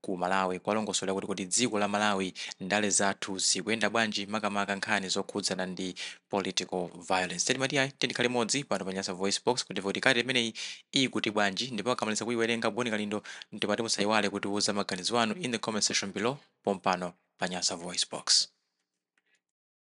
ku Malawi kuwalongosolera kuti kodi dziko la Malawi ndale zathu zikuyenda bwanji makamaka nkhani zokhudzana ndi political violence. Timati ayi tiyeni tikhale limodzi pano pa Nyasa VoiceBox kuti timve kuti kalata imeneyi ikuti bwanji ndipo tikamaliza kuyiwerenga Boni Kalindo ndimati musayiwale kutiwuza maganizo anu in the comment section below pompano pa Nyasa VoiceBox.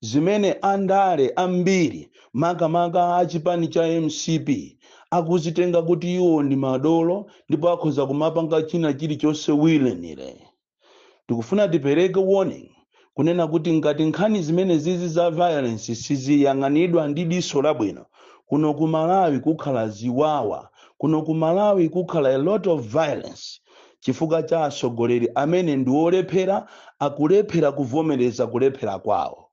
zimene andale ambiri makamaka a chipani cha mcp akuzitenga kuti iwo ndi madolo ndipo akhoza kumapanga china chilichonse willy-nilly tikufuna tipereke warning kunena kuti ngati nkhani zimene zizi za violence siziyang'anidwa ndi diso labwino kuno ku malawi kukhala ziwawa kuno ku malawi kukhala a lot of violence chifukwa cha atsogoleri amene ndi olephera akulephera kuvomereza kulephera kwawo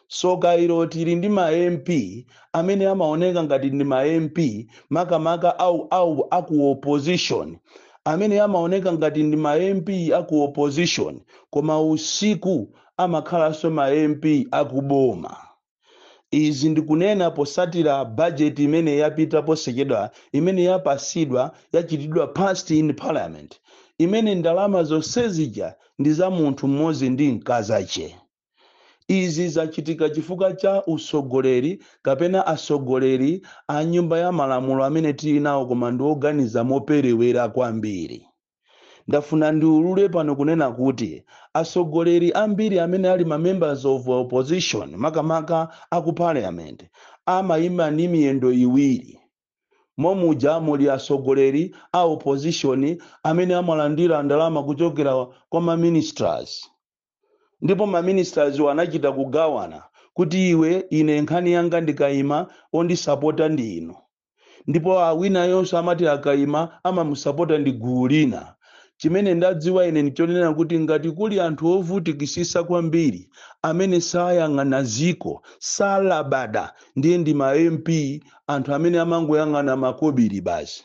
tsoka ilo tili ndi ma mp amene amaoneka ngati ndi ma mp makamaka au au aku opposition amene amaoneka ngati ndi ma mp aku opposition koma usiku amakhalanso ma mp akuboma Izi ndikunena potsatira budget imene yapita posachedwa imene yapasidwa yachitidwa passed in parliament imene ndalama zonsezija ndi za munthu mmodzi ndi mkazache. Izi zachitika chifukwa cha utsogoleri kapena atsogoleri a nyumba ya malamulo amene tili nawo koma ndi oganiza moperewera kwambiri. Ndafuna ndiulule pano kunena kuti atsogoleri ambiri amene ali ma members of opposition makamaka a ku parliament amayima ndi miyendo iwiri momuja muli atsogoleri a opposition amene amalandira ndalama kuchokera kwa ma ministers ndipo ma ministers anachita kugawana kuti iwe ine nkhani yanga ndikayima ondisapota ndi inu ndipo awinayonso amati akaima amamusapota ndi gulu lina chimene ndadziwa ine ndichonena kuti ngati kuli anthu ovutikitsitsa kwambiri amene sayang'ana dziko salabada ndiye ndi ma mp anthu amene amangoyang'ana makobiri basi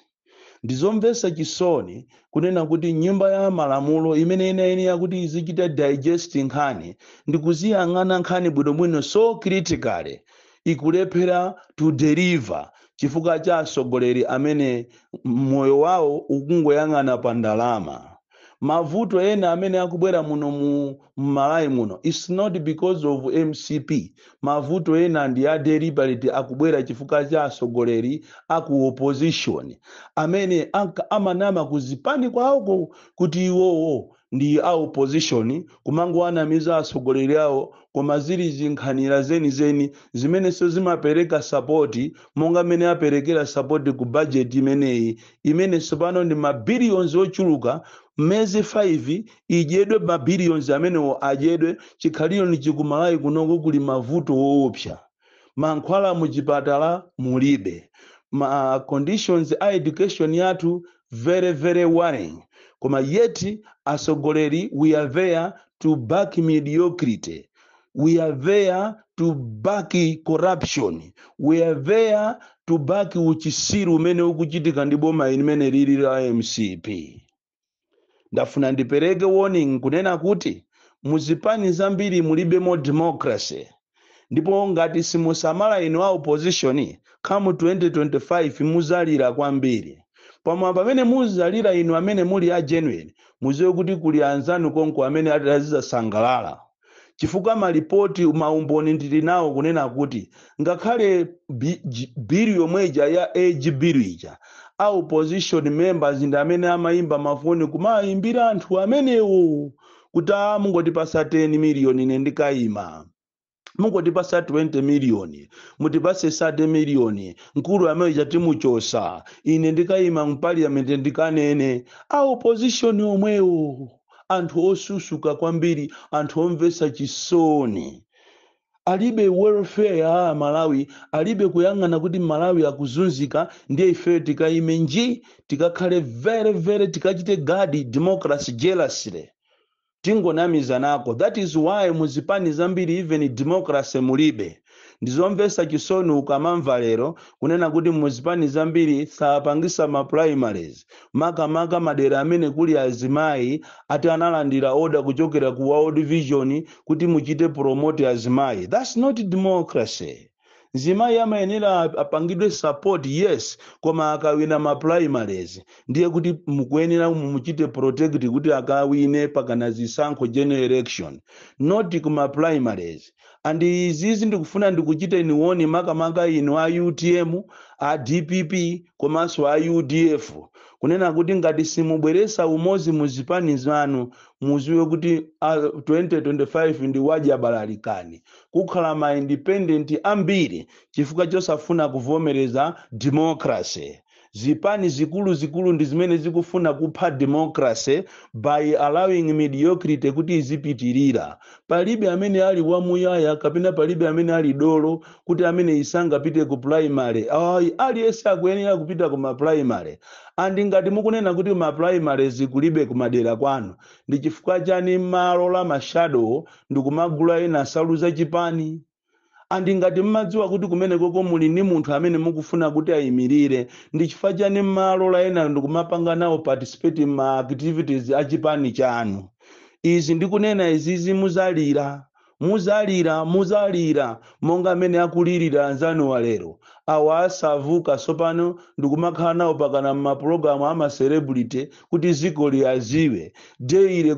ndizomvetsa chisoni kunena kuti nyumba ya malamulo imene inayenera kuti izichita digest nkhani ndikuziyang'ana nkhani bwinobwino so critically ikulephera to deliver chifukwa cha atsogoleri amene moyo wawo ukungoyang'ana pa ndalama. Mavuto ena amene akubwera muno mu Malawi muno it's not because of mcp. Mavuto ena ndi a deliberate akubwera chifukwa cha atsogoleri a ku opposition amene amanama ku zipani kwawoko kuti iwowo ndi a opposition kumangowanamiza atsogoleri awo koma zili zinkhanira zenizeni zimenenso zimapereka sapoti monga mmene aperekera sapoti ku bajeti imeneyi imene tsopano ndi mabiliyonzi ochuluka miyezi 5 idyedwe mabiliyonzi amenewo adyedwe chikhalireni chikumalayi kunoko kuli mavuto woopsa mankhwala muchipatala mulibe ma conditions a education yathu very very worrying koma yet asogoleri we are there to back mediocrity we are there to back corruption we are there to back uchisiru umene ukuchitika ndi boma limene lili la mcp ndafuna ndipereke warning kunena kuti muzipani zambiri mulibemo democracy ndipo ngati simusamala inu a opposition come 2025 muzalira kwambiri pomwe pamene muzalira inu amene muli a genuine muziwe kuti kuli anzanu konko amene ati azizasangalala chifukwa malipoti maumboni ndili nawo kunena kuti ngakhale bi- ji- bill yomwe ija ya age bill ija a opposition members ndi amene amayimba mafoni kumayimbira anthu amenewo kuti a mungotipasa 10 miliyoni ine ndikayima mungotipasa 20 miliyoni mutipase 30 miliyoni mkulu ameneyu atimuchosa ine ndikayima mu parliament ndikanene a opposition omwewo anthu osusuka kwambiri anthu omvetsa chisoni alibe welfare ya amalawi alibe kuyang'ana kuti mmalawi akuzunzika ndiye ifeyo tikaime nji tikakhale very very tikachite guard democracy jealously tingonamizanako that is why muzipani zambiri even democracy mulibe ndizomvesa chisoni ukamamva lero kunena kuti muzipani zambiri sapangisa ma primaries makamaka madera amene kuli azimayi ati analandira order kuchokera ku world vision kuti muchite promote azimayi thats not democracy mzimayi amayenera ap- apangidwe support yes koma akawina ma primaries ndiye kuti mukuyenera mumuchite protect kuti akawine pakakhala zisankho general election not kuma primaries and izizi ndikufuna ndikuchiteni warn makamaka inu a utm a dpp komanso a udf kunena kuti ngati simubweresa umozi mu zipani zanu muziwe kuti a 2025 ndi wadyabalalikani kukhala ma independent ambiri chifukwa chosafuna kuvomereza democracy Zipani zikuluzikulu ndi zimene zikufuna kupha democracy by allowing mediocrity kuti izipitirira. Palibe amene ali wamuyaya kapena palibe amene ali dolo kuti ameneyi sangapite ku primary. Ayi, aliyense akuyenera kupita ku ma primary. And ngati mukunena kuti ma primaries kulibe kumadera kwanu, ndi chifukwa chani mmalola ma shadow ndikumagula ena nsalu za chipani? And ngati mmadziwa kuti kumenekoko muli ndi munthu amene mukufuna kuti ayimirire, ndi chifukwa chani mmawalola enayo ndikumapanga nawo participate mma activities a chipani chanu? Izi ndikunena izizi muzalira, muzalira, muzalira monga mmene akulirira anzanuwa lero. Awa asavuka tsopano ndikumakhala nawo pakana mmapulogalamu a ma celebrity kuti ziko liwaziwe deile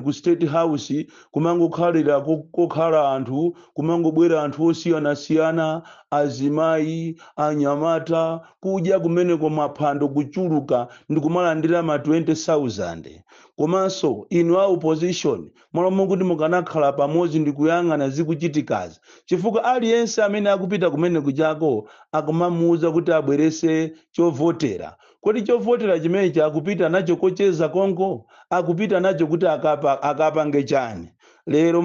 ku state house kumangokhalira kokhala anthu kumangobwera anthu osiyanasiyana azimayi anyamata kudya kumeneko maphwando kuchuluka ndi kumalandira ma 20000 komanso inu a opposition malo mokuti mukanakhala pamodzi ndi kuyang'ana zikuchitikazi chifukwa aliyense amene akupita kumeneko chako akumamuuza kuti abwerese chovotera Kodi chovotera chimenechi akupita nacho kocheza konko? Akupita nacho kuti akapange chani? Lero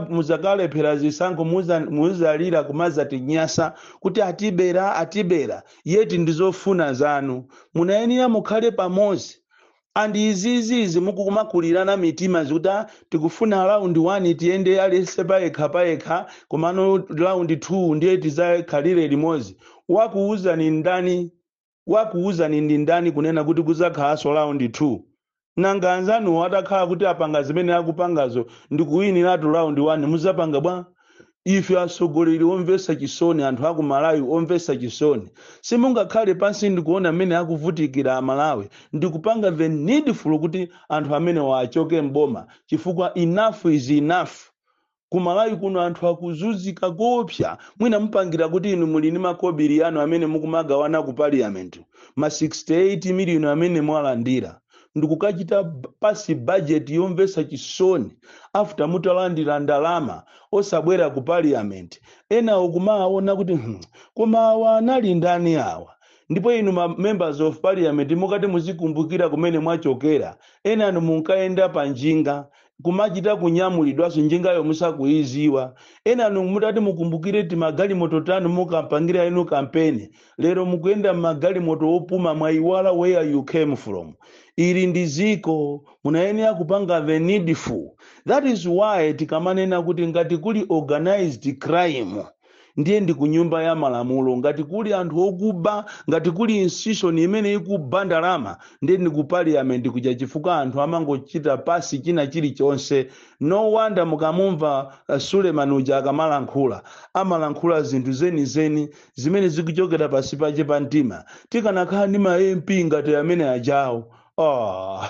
muzakalephera zisankho muzalira kumazatinyasa kuti atibera atibera yet ndizofuna zanu. Munayenera mukhale pamodzi and izizi izi mukumakulirana mitima kuti ah tikufuna round 1 tiyende aliyense payekha payekha komano round 2 ndiye tizakhalire limodzi. Wakuwuzani ndani? wakuuzani ndi ndani kunena kuti kudzakhalanso round 2? Nanga anzanuwo atakhala kuti apanga zimene akupangazo ndi kuwiniratu round 1 mudzapanga bwa? Ife atsogoleri omvetsa chisoni, anthu a ku Malawi omvetsa chisoni, simungakhale pansi ndi kuona mmene akuvutikira Amalawi ndi kupanga the needful kuti anthu amenewa achoke m'boma chifukwa enough is enough. kumalawi kuno anthu akuzuzika koopsa mwina mupangira kuti inu muli ndi makobiri anu amene mukumagawana ku parliament ma 68 million amene mwalandira ndikukachita pass budget yomvesa chisoni after mutalandira ndalama osabwera ku parliament ena ukumaona kuti hmm, koma awa anali ndani awa ndipo inu ma members of parliament mukati muzikumbukira kumene mwachokera enanu munkayenda pa njinga kumachita kunyamulidwanso njingayo musakuiziwa enanu mutati mukumbukire timagalimoto tanu munkapangira inu kampeni lero mukuyenda m'magalimoto opuma mwaiwala where you came from ili ndi ziko munayenera kupanga the needful that is why tikamanena kuti ngati kuli organized crime ndiye ndi ku nyumba ya malamulo ngati kuli anthu okuba ngati kuli institution imene ikuba ndalama ndiye ndi ku parliament kuja chifukwa anthu amangochita pasi china chilichonse no wonder mukamumva uh, suleman uja akamalankhula amalankhula zinthu zenizeni zimene zikuchokera pasi pache pa mtima tikanakhala ndi ma mp ngati amene ajawo oh,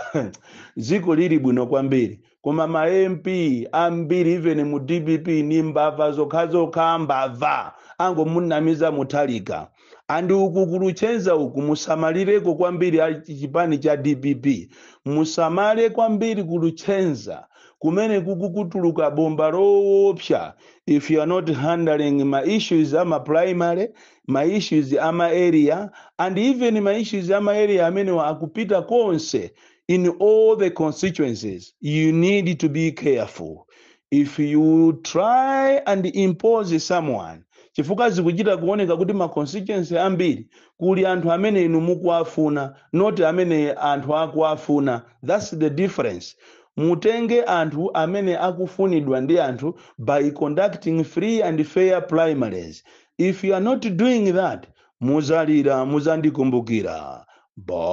dziko lili bwino kwambiri koma ma mp ambiri even mu dpp ni mbava zokhazokha mbava angomunamiza Mutharika and uku ku Luchenza uku musamalireko kwambiri chipani cha dpp musamale kwambiri ku Luchenza kumene kukutuluka bomba loopsa if you are not handling ma issues ama primary ma issues ama area and even ma issues ama area amenewa akupita konse in all the constituencies, you need to be careful. If you try and impose someone, chifukwa zikuchita kuoneka kuti ma constituency ambiri kuli anthu amene inu mukuwafuna not amene anthu akuwafuna that's the difference mutenge anthu amene akufunidwa ndi anthu by conducting free and fair primaries if you are not doing that muzalira muzandikumbukira bon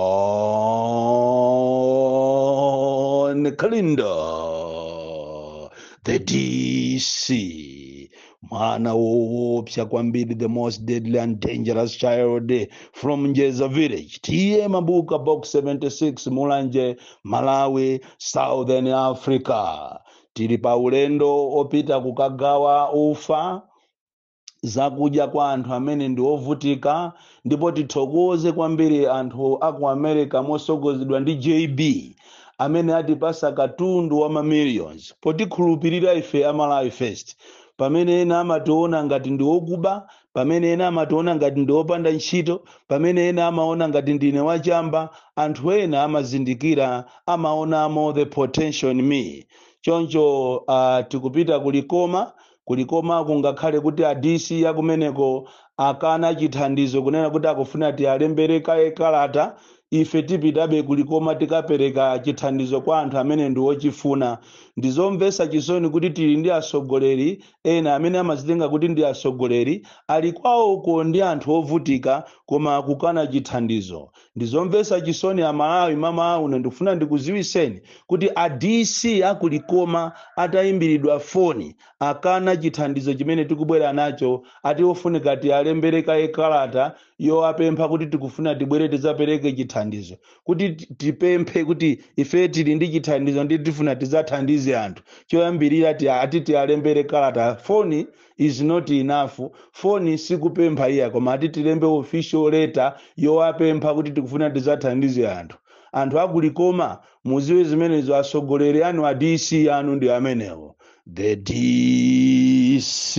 kalindo the dc mwana woopsa kwambiri the most deadly and dangerous child from njeza village ta mabuka box 76 mulanje malawi southern africa tili pa ulendo opita kukagawa ufa zakudya kwa anthu amene ndi ovutika ndipo tithokoze kwambiri anthu a ku america mosogozedwa ndi jb amene atipasa katundu wa mamillions potikhulupirira ife amalawi first pamene ena amationa ngati ndi okuba pamene ena amationa ngati ndi opanda ntchito pamene ena amaona ngati ndine wachamba anthu ena amazindikira amaonamo the potential in me choncho uh, tikupita ku likoma Ku Likoma kungakhale kuti a DC a kumeneko akana chithandizo kunena kuti akufuna tialembere kaye kalata, ife tipitabe ku Likoma tikapereka chithandizo kwa anthu amene ndi ochifuna. Ndi zomvetsa chisoni kuti tili ndi atsogoleri ena amene amadzitenga kuti ndi atsogoleri, ali kwawoko ndi anthu ovutika koma akukana chithandizo. ndizomvetsa chisoni amalawi mamawa uno ndikufuna ndikuziwiseni kuti a dc aku likoma atayimbiridwa foni akana chithandizo chimene tikubwera nacho ati ofunika tiyalembere kaye kalata yowapempha kuti tikufuna tibwere tizapereke chithandizo kuti ti- tipemphe kuti ife tili ndi chithandizo ndiye tifuna tizathandize anthu choyambirira ti- ati tiyalembere kalata foni is not enough foni sikupempha iya koma ati tilembe official letter yowapempha kuti tikufuna tizathandize anthu anthu aku Likoma muziwe zimenezo atsogoleri anu a dc anu ndi amenewo the dc